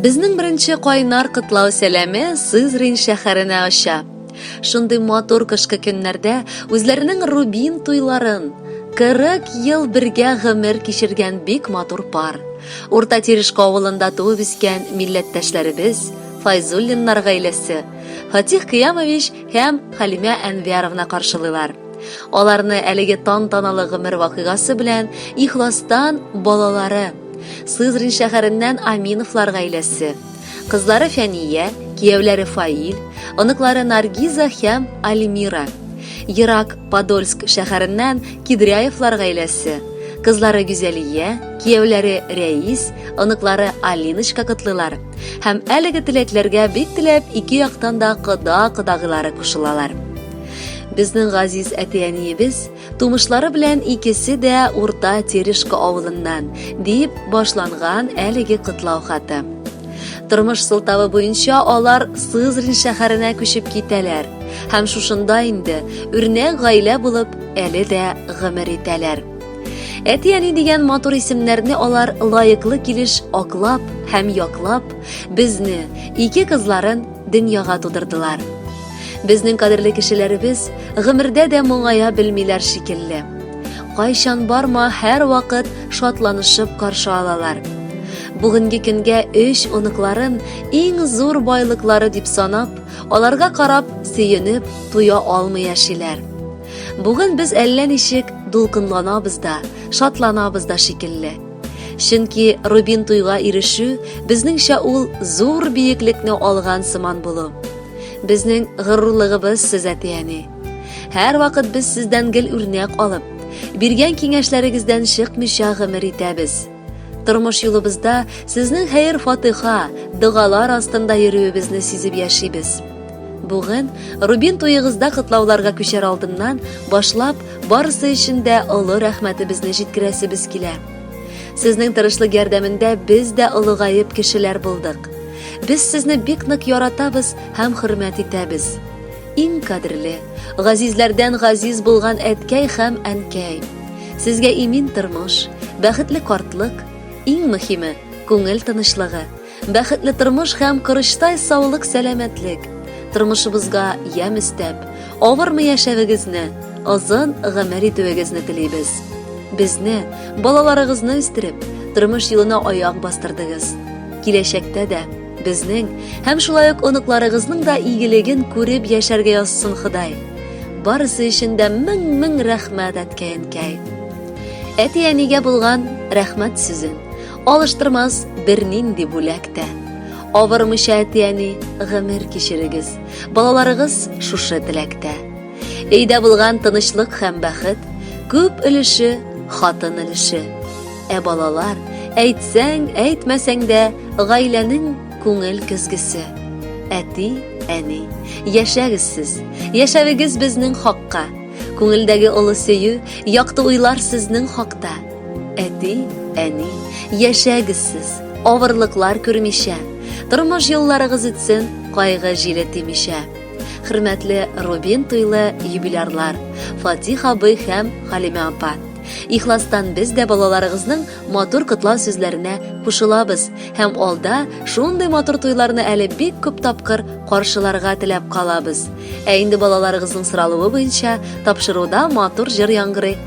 Безнең беренче кайнар котлау сәламе Сызрин шәһәренә оча. Шундый матур кышкы көннәрдә үзләренең Рубин туйларын 40 ел бергә гомер кичергән бик матур пар. Урта Тирешка авылында туып үскән милләттәшләребез Файзуллиннар гаиләсе Фатих Кыямович һәм Халимә Әнвяровна каршылыйлар. Аларны әлеге тантаналы гомер вакыйгасы белән ихластан балалары, Сызрин шәһәреннән Аминовлар гаиләсе, кызлары Фәния, кияүләре Фаил, оныклары Наргиза һәм Альмира, Ерак Подольск шәһәреннән Кидряевлар гаиләсе, кызлары Гүзәлия, кияүләре Рәис, оныклары Алиночка котлыйлар. Һәм әлеге теләкләргә бик теләп ике яктан да кода-кодагыйлары кушылалар. Безнең газиз әти-әниебез тумышлары белән икесе дә Урта Терешка авылыннан, дип башланган әлеге котлау хаты. Тормыш сылтавы буенча алар Сызрин шәһәренә күчеп китәләр һәм шушында инде үрнәк гаилә булып әле дә гомер итәләр. Әти-әни дигән матур исемнәрне алар лаеклы килеш аклап һәм яклап, безне, ике кызларын дөньяга тудырдылар. Безнең кадерле кешеләребез гомердә дә моңая белмиләр шикелле. Кайчан барма, һәр вакыт шатланышып каршы алалар. Бүгенге көнгә өч оныкларын иң зур байлыклары дип санап, аларга карап, сөенеп, туя алмый яшиләр. Бүген без әллә ничек дулкынланабыз да, шатланабыз да шикелле. Чөнки Рубин туйга ирешү безнеңчә ул зур биеклекне алган сыман булу. Безнең горурлыгыбыз сез әтияни. Һәр вакыт без сездән гел үрнәк алып, биргән киңәшләрегездән чыкмыйча гомер итәбез. Тормыш юлыбызда сезнең хәер-фатыха, догалар астында йөрүебезне сизеп яшибез. Бүген, Рубин туегызда котлауларга күчәр алдыннан, башлап, барысы өчен дә олы рәхмәтебезне җиткерәсебез килә. Сезнең тырышлык ярдәмендә без дә олыгаеп кешеләр булдык. Без сезне бик нык яратабыз һәм хөрмәт итәбез. Иң кадерле, газизләрдән газиз булган әткәй һәм әнкәй. Сезгә имин тормыш, бәхетле картлык, иң мөһиме, күңел тынычлыгы, Бәхетле тормыш һәм корычтай саулык сәламәтлек. Тормышыбызга ямь өстәп, авырмы яшәвегезне, озын гомер итүегезне телибез. Безне, балаларыгызны үстереп, тормыш юлына аяк бастырдыгыз. Киләчәктә дә безнең һәм шулай ук оныкларыгызның да игелеген күреп яшәргә язсын Ходай. Барысы өчен дә мең-мең рәхмәт әткәй-әнкәй. Әти-әнигә булган рәхмәт сүзен Алыштырмас бернинди бүләк тә. Авырмыйча әти-әни гомер кичерегез. Балаларыгыз шушы теләктә. Өйдә булган тынычлык һәм бәхет күп өлеше хатын өлеше. Ә балалар, әйтсәң, әйтмәсәң дә, гаиләнең күңел көзгесе. Әти, әни, яшәгез сез, яшәвегез безнең хакка. Күңелдәге олы сөю, якты уйлар сезнең хакта. Әти, әни, яшәгез сез, авырлыклар күрмичә, тормыш юлларыгыз үтсен, кайгы җиле тимичә. Хөрмәтле Рубин туйлы юбилярлар, Фатих абый һәм Халимә апа. Ихластан без дә балаларыгызның матур котлау сүзләренә кушылабыз һәм алда шундый матур туйларны әле бик күп тапкыр каршыларга теләп калабыз. Ә инде балаларыгызның соралуы буенча тапшыруда матур җыр яңгырый.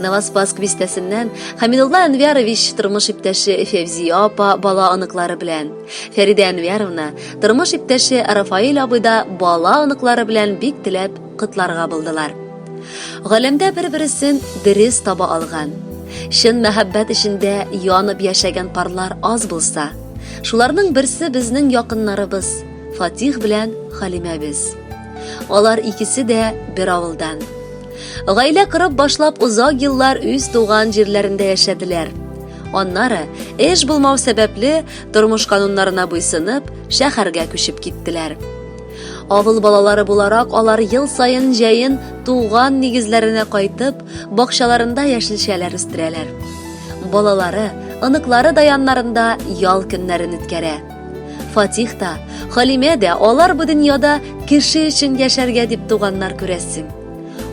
Новоспаск бистәсеннән Хамидулла Әнвярович тормыш иптәше Февзия апа бала оныклары белән, Фәридә Әнвяровна тормыш иптәше Рафаил абый да бала оныклары белән бик теләп котларга булдылар. Галәмдә бер-берсен дөрес таба алган, чын мәхәббәт эчендә янып яшәгән парлар аз булса, шуларның берсе безнең якыннарыбыз Фатих белән Халимәбез. Алар икесе дә бер авылдан. Гаилә кырып башлап озак еллар үз туган җирләрендә яшәделәр. Аннары эш булмау сәбәпле тормыш кануннарына буйсынып шәһәргә күчеп киттеләр. Авыл балалары буларак алар ел саен җәен туган нигезләренә кайтып, бакчаларында яшелчәләр үстерәләр. Балалары, оныклары да яннарында ял көннәрен үткәрә. Фатих та, Халимә дә алар бу дөньяда кеше өчен яшәргә дип туганнар күрәсең.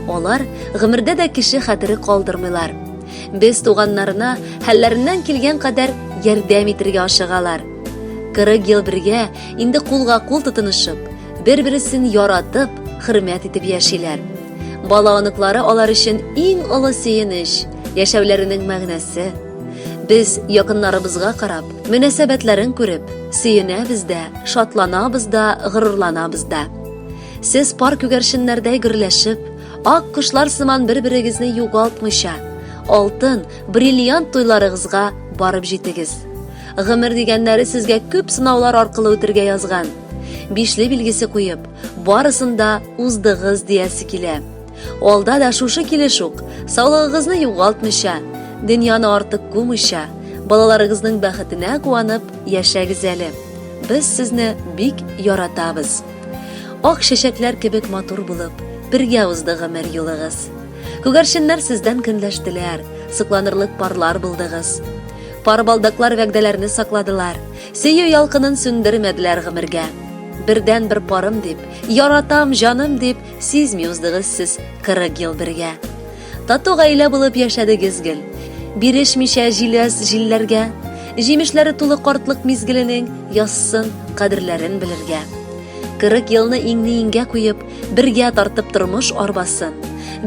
Алар гомердә дә кеше хәтере калдырмыйлар. Без туганнарына хәлләреннән килгән кадәр ярдәм итергә ашыгалар. 40 ел бергә инде кулга-кул тотынышып, бер-бересен яратып, хөрмәт итеп яшиләр. Бала оныклары алар өчен иң олы сөенеч, яшәүләренең мәгънәсе. Без якыннарыбызга карап, Мөнәсәбәтләрен күреп, сөенәбез дә, шатланабыз да, горурланабыз да. Сез пар күгәрченнәрдәй гөрләшеп, ак кошлар сыман бер-берегезне югалтмыйча, алтын, бриллиант туйларыгызга барып җитегез. Гомер дигәннәре сезгә күп сынаулар аркылы үтергә язган. Бишле билгесе куеп, барысын да уздыгыз диясе килә. Алда да шушы килеш үк, саулыгыгызны югалтмыйча, дөньяны артык кумыйча, балаларыгызның бәхетенә куанып яшәгез әле. Без сезне бик яратабыз. Ак чәчәкләр кебек матур булып, бергә узды гомер юлыгыз. Күгәрченнәр сездән көнләштеләр, сокланырлык парлар булдыгыз. Пар балдаклар вәгъдәләрне сакладылар, сөю ялкынын сүндермәделәр гомергә. Бердән бер парым дип, яратам, җаным дип, Сизми уздыгыз сез 40 ел бергә. Тату гаилә булып яшәдегез гел. Бирешмичә җиләс җилләргә. Җимешләре тулы картлык мизгеленең язсын кадерләрен белергә. 40 елны иңне-иңгә куеп, бергә тартып тормыш арбасын.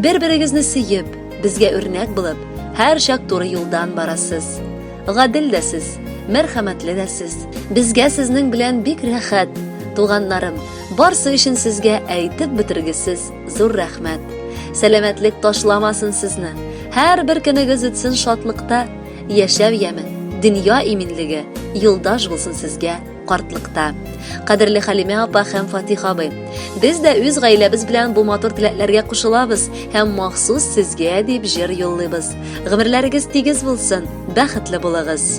Бер-берегезне сөеп, безгә үрнәк булып, һәр чак туры юлдан барасыз. Гадел дә сез, мәрхәмәтле дә сез. Безгә сезнең белән бик рәхәт, туганнарым. Барсы өчен сезгә әйтеп бетергесез зур рәхмәт. Сәламәтлек ташламасын сезне. Һәр бер көнегез үтсен шатлыкта, яшәү яме, дөнья иминлеге юлдаш булсын сезгә картлыкта. Кадерле Халимә апа һәм Фатих абый, без дә үз гаиләбез белән бу матур теләкләргә кушылабыз һәм махсус сезгә дип җыр юллыйбыз. Гомерләрегез тигез булсын, бәхетле булыгыз.